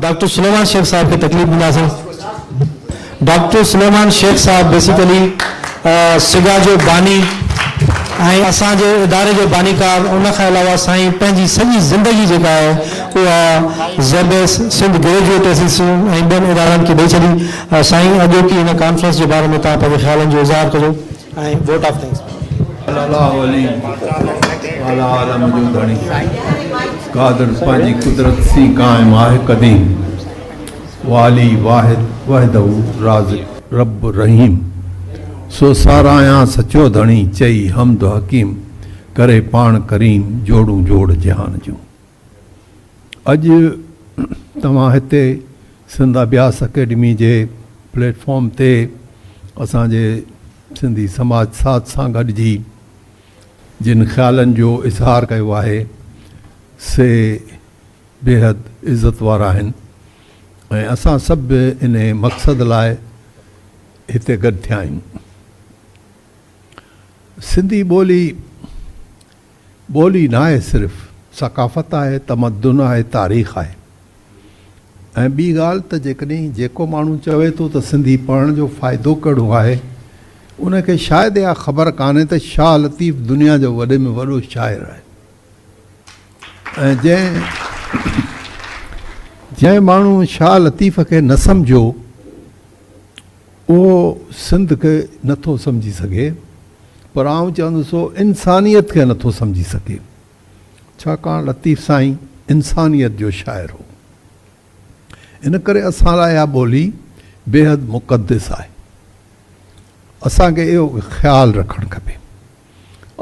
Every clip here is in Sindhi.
ڊاڪٽر سليمان شيخ صاحب کي تڪليف ڏيندا سين. ڊاڪٽر سليمان شيخ صاحب بيسيڪلي سگا جو باني ۽ اسان جي اداري جو بانيڪار ان کان علاوه سائين پنهنجي سڄي زندگي جيڪا آهي اها زيبيس، سنڌ گريجوئيٽ ايسيسيئن ۽ ٻين ادارن کي ڏئي ڇڏي. سائين اڄوڪي هن ڪانفرنس جي باري ۾ توهان پنهنجي خيالن جو اظهار ڪجو. ۽ ووٽ آف ٿينڪس به. صلي الله علي اعلٰي عالم جو ڌڻي قادر پنهنجي قدرت سين قائم آهي قديم والي واحد وحده رازق رب رحيم سو ساراهيان سچو ڌڻي چئي حمد حڪيم ڪري پاڻ ڪريم جوڙون جوڙ جهان جون. اڄ توهان هتي سنڌ اڀياس اڪيڊمي جي پليٽ فارم تي اسان جي سنڌي سماج ساٿ سان گڏجي جن خيالن جو اظهار ڪيو آهي سي بيحد عزت وارا آهن ۽ اسان سڀ به ان مقصد لاء هتي گڏ ٿيا آهيون. سنڌي ٻولي ٻولي ناهي صرف ثقافت آهي، تمدن آهي، تاريخ آهي ۽ ٻي ڳالهه ته جيڪڏهن جيڪو ماڻهو چوي ٿو ته سنڌي پڙهڻ جو فائدو ڪهڙو آهي ان کي شايد اها خبر ڪانهي ته شاهه لطيف دنيا جو وڏي ۾ وڏو شاعر آهي ۽ جنهن جنهن ماڻهو شاهه لطيف کي نه سمجهيو اهو سنڌ کي نٿو سمجهي سگهي. پر آئون چوندس هو انسانيت کي نه ٿو سمجهي سگهي، ڇاڪاڻ لطيف سائين انسانيت جو شاعر هو. ان ڪري اسان لاء اها ٻولي بيحد مقدس آهي. اسان کي اهو خيال رکڻ کپي.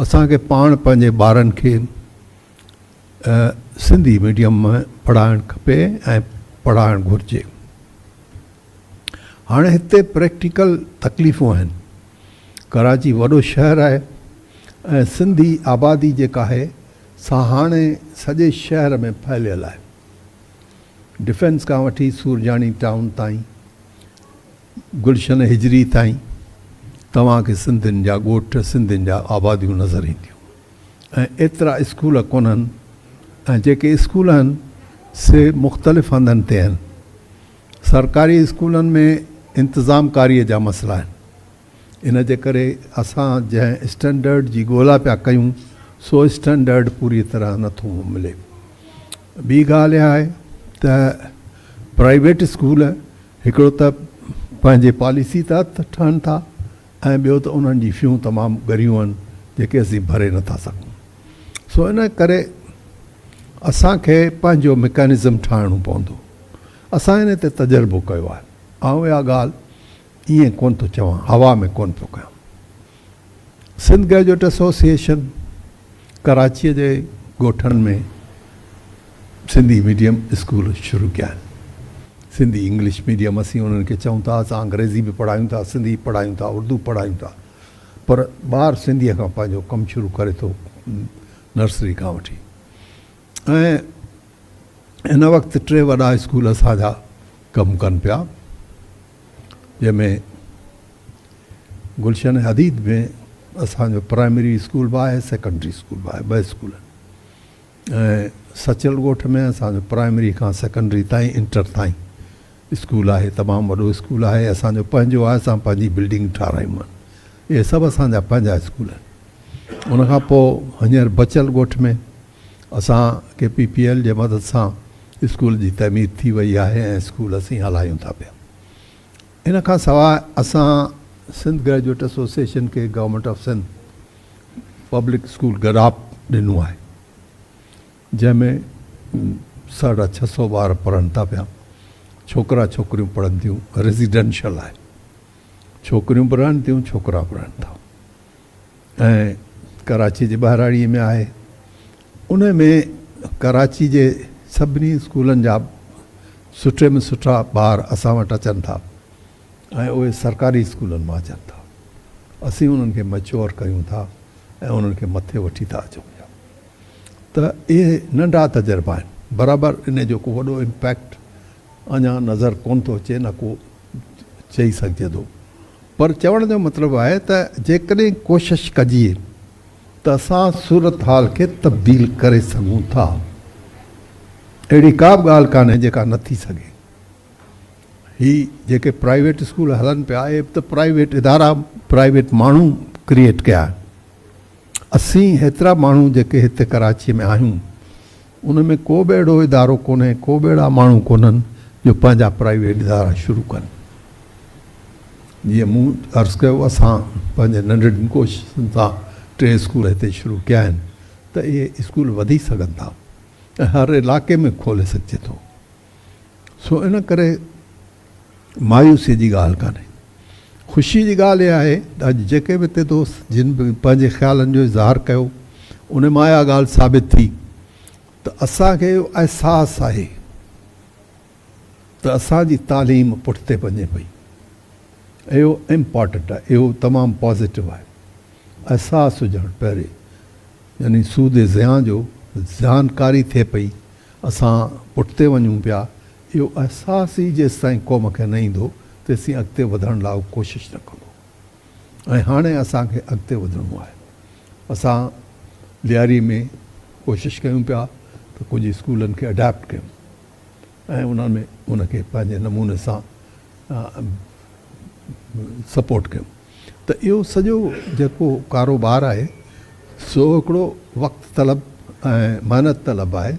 اسان کي پاڻ پنهنجي ٻارن کي سنڌي ميڊيم ۾ پڙهائڻ کپي ۽ پڙهائڻ گهرجي. هاڻي هتي پريڪٽيڪل تڪليفون آهن. ڪراچي وڏو شهر آهي ۽ سنڌي آبادي جيڪا آهي سا هاڻي سڄي شهر ۾ ڦهليل آهي. ڊفينس کان وٺي سورجاڻي ٽائون تائين، گلشن هجري تائين توهان کي سنڌين جا ڳوٺ، سنڌين جا آباديون نظر اينديون ۽ ايترا اسڪول ڪونهن ۽ جيڪي اسڪول آهن سي مختلف هنڌن تي آهن. سرڪاري اسڪولن ۾ انتظام ڪاري جا مسئلا آهن ان جي ڪري اسان جنهن اسٽينڊرڊ جي ڳولا پيا ڪيون سو اسٽينڊرڊ پوري طرح نه ٿو ملي ٻي ڳالهه اها آهي ته پرائيويٽ اسڪول هڪڙو ته پنهنجي پاليسي تحت ٺهن ٿا ۽ ٻيو ته انهن جي فيون تمام ڳريون آهن جيڪي اسين ڀري نٿا سگهون سو ان ڪري اسان کي پنهنجو مڪينزم ٺاهڻو پوندو اسان انهي تي تجربو ڪيو آهي. آئون اها ڳالهه ائين ڪونه ٿو چوان، هوا ۾ ڪونه پيو ڪيان. سنڌ گريجوئيٽ ايسوسيئيشن ڪراچيء جي ڳوٺن ۾ سنڌي ميڊيم اسڪول شروع ڪيا آهن. سنڌي انگلش ميڊيم اسين انهن کي چئون ٿا، اسان انگريزي به پڙهايون ٿا، سنڌي به پڙهايون ٿا، اردو به پڙهايون ٿا، پر ٻار سنڌيء کان پنهنجو ڪم شروع ڪري ٿو نرسري کان وٺي. ۽ ان وقت ٽي وڏا اسڪول اسان جا ڪم ڪن پيا جنهن ۾ گلشن حديد ۾ اسان جو پرائمري اسڪول به آهي سيڪنڊري اسڪول به آهي ٻه اسڪول ۽ سچل ڳوٺ ۾ اسان جو پرائمري کان سيڪنڊري تائين انٽر تائين اسڪول آهي تمام وڏو اسڪول آهي اسان جو پنهنجو آهي اسان پنهنجي بلڊنگ ٺارايون آهن اهي سڀ اسان جا پنهنجا اسڪول آهن ان کان پوء هينئر بچل ڳوٺ ۾ اسان ڪي پي پي ايل جي مدد سان اسڪول جي تعمير ٿي وئي آهي ۽ اسڪول اسين هلايون ٿا پيا. ان کان سواء اسان سنڌ گريجوئيٽ ايسوسيئيشن کي government of Sindh public school Gadap ڏنو آهي جنهن ۾ ساڍا ڇهه سؤ ٻار پڙهن ٿا پيا ڇوڪرا ڇوڪريون پڙهن ٿيون ريزيڊنشل آهي ڇوڪريون به رهن ٿيون ڇوڪرا به رهن ٿا. ۽ ڪراچي جي ٻهراڙيء ۾ آهي. ان ۾ ڪراچي جي سڀني اسڪولن جا سٺي ۾ سٺا ٻار اسان وٽ اچن ٿا ۽ اهي سرڪاري اسڪولن مان اچن ٿا. اسين انهن کي مئچوئر ڪريون ٿا ۽ انهن کي مٿي وٺي ٿا اچون پيا. ته اهي ننڍا تجربا آهن. برابر ان جو ڪو وڏو امپيڪٽ اڃا نظر ڪونه ٿو اچي نه ڪو چئي سگهجي ٿو. پر چوڻ جو مطلب آهي ته جيڪڏهن ڪوشش ڪجي ته اسان صورتحال کي تبديل ڪري سگهون ٿا. اهڙي ڪا به ڳالهه ڪانهي جيڪا نه ٿي سگهي. هي جيڪي پرائيويٽ اسڪول هلن پيا اهي به ته پرائيويٽ ادارا پرائيويٽ ماڻهو ڪريئيٽ ڪيا آهن. اسين هيترا ماڻهو جيڪي هت ڪراچيء ۾ آهيون، ان ۾ ڪو به اهڙو ادارو ڪونهي، ڪو به اهڙا ماڻهو ڪونهن، جو پنهنجا پرائيويٽ ادارا شروع ڪن. جيئن مون عرض ڪيو، اسان پنهنجين ننڍڙين ڪوششن سان ٽي اسڪول هتي شروع ڪيا آهن، ته اهي اسڪول وڌي سگهن ٿا ۽ هر علائقي ۾ کولي سگهجي ٿو. سو ان ڪري مايوسيء جي ڳالهه ڪانهي. خوشيء جي ڳالهه اها آهي ته اڄ جيڪي به اتي دوست جن به پنهنجي خيالن جو اظهار ڪيو، ان مان اها ڳالهه ثابت ٿي ته اسان کي اهو احساس آهي ته اسان جي تعليم پٺتي پنجي پئي. اهو امپارٽنٽ آهي، اهو تمام پازيٽو آهي. احساس هجڻ پهرين يعني سود زيان جو جانڪاري ٿئي پئي اسان پٺتي وڃون پيا، اهو احساس ئي جيستائين قوم کي نه ايندو، تيسين اڳتي وڌڻ لاء هو ڪوشش نه ڪندو ۽ هاڻي اسان کي اڳتي وڌڻو آهي. اسان لياري ۾ ڪوشش ڪيون پيا ته ڪجهه اسڪولن کي اڊاپٽ ڪيون ۽ انهن ۾ ان کي پنهنجي نموني سان سپورٽ ڪيون. ته اهو سڄو جيڪو ڪاروبار آهي سو هڪڙو وقت طلب ۽ محنت طلب آهي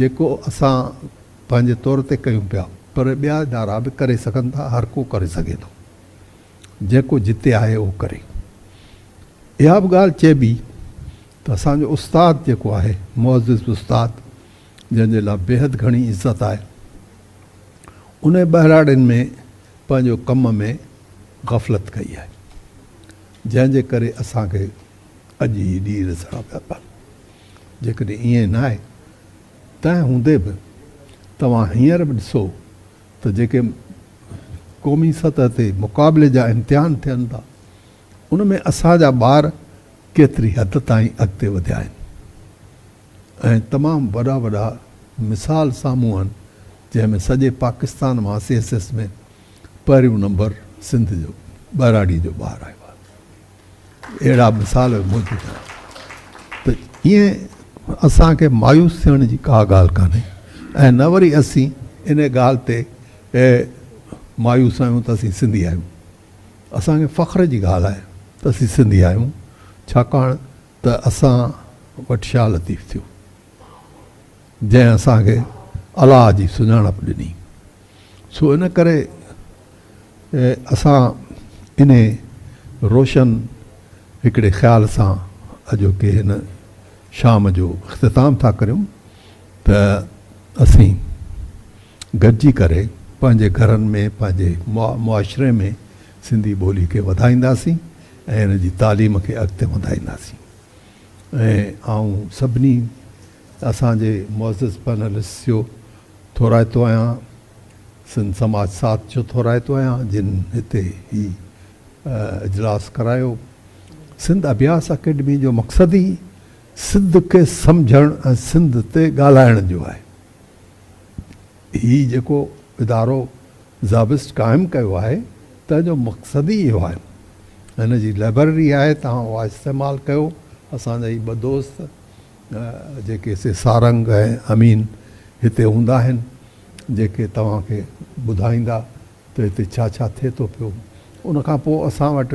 جيڪو اسان پنهنجي طور تي ڪيون پيا پر ٻيا ادارا به ڪري سگهن ٿا هر ڪو ڪري سگهي ٿو جيڪو جتي آهي اهو ڪري اها به ڳالهه چئبي ته اسان جو استاد جيڪو آهي معزز استاد جنهن جي لاء بيحد گهڻي عزت آهي انهي ٻهراڙين ۾ پنهنجو ڪم ۾ غفلت ڪئي آهي جنهن جي ڪري اسان کي اڄ هي ڏينهن ڏسڻا پيا پون جيڪڏهن ائين نه آهي تنهن هوندي به توهان هينئر به ڏسو ته جيڪي قومي سطح تي مقابلي جا امتحان ٿين ٿا ان ۾ اسان جا ٻار ڪيتري حد تائين اڳتي وڌيا آهن. ۽ تمام وڏا وڏا مثال سامهون آهن جنهن ۾ سڄي پاڪستان مان سي ايس ايس ۾ پهريون نمبر سنڌ جو ٻهراڙي جو ٻار آيو آهي اهڙا مثال موجود آهن ته ائين اسان کي مايوس ٿيڻ جي ڪا ڳالهه ڪانهي ۽ نه وري اسين ان ڳالهه تي مايوس آهيون ته اسين سنڌي آهيون اسان کي فخر جي ڳالهه آهي ته اسين سنڌي آهيون ڇاڪاڻ ته اسان وٽ شاهه لطيف ٿيو، جنهن اسان کي الله جي سڃاڻپ ڏني، سو ان ڪري اسان انهي روشن هڪڙي خيال سان اڄوڪي هن شام جو اختتام ٿا ڪريون ته اسين گڏجي ڪري پنهنجي گهرن ۾، پنهنجي معاشري ۾، سنڌي ٻولي کي وڌائينداسين ۽ ان جي تعليم کي اڳتي وڌائينداسين ۽ آئون سڀني اسان جي معزز پئنلسٽس جو ٿورائتو آهيان سنڌ سماج ساٿ جو ٿورائتو آهيان جن هتي هي اجلاس ڪرايو سنڌ اڀياس اڪيڊمي جو مقصد ئي سنڌ کي سمجهڻ ۽ سنڌ تي ڳالهائڻ جو آهي. هي جيڪو ادارو زابسٽ قائم ڪيو آهي تنهن جو مقصد ئي اهو آهي. هن جي لئبرري آهي توهان اها استعمال ڪيو. اسان جا هي ٻه دوست جيڪي سي سارنگ ۽ امين هتي هوندا آهن جيڪي توهان کي ٻڌائيندا ته هتي ڇا ڇا ٿئي ٿو پيو. ان کان پوء اسان وٽ.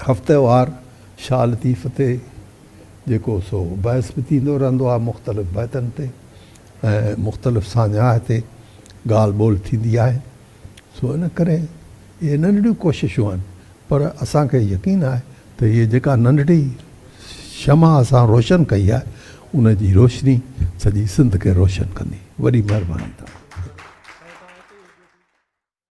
هفتيوار شاهه لطيف تي جيڪو سو بحث به ٿيندو رهندو آهي مختلف بيتن تي ۽ مختلف ساڃاهه تي ڳالهه ٻولهه ٿيندي آهي سو ان ڪري اهي ننڍڙيون ڪوششون آهن پر اسان کي يقين آهي ته هيء جيڪا ننڍڙي شمع اسان روشن ڪئي آهي ان جي روشني سڄي سنڌ کي روشن ڪندي وڏي مهرباني توهان جي.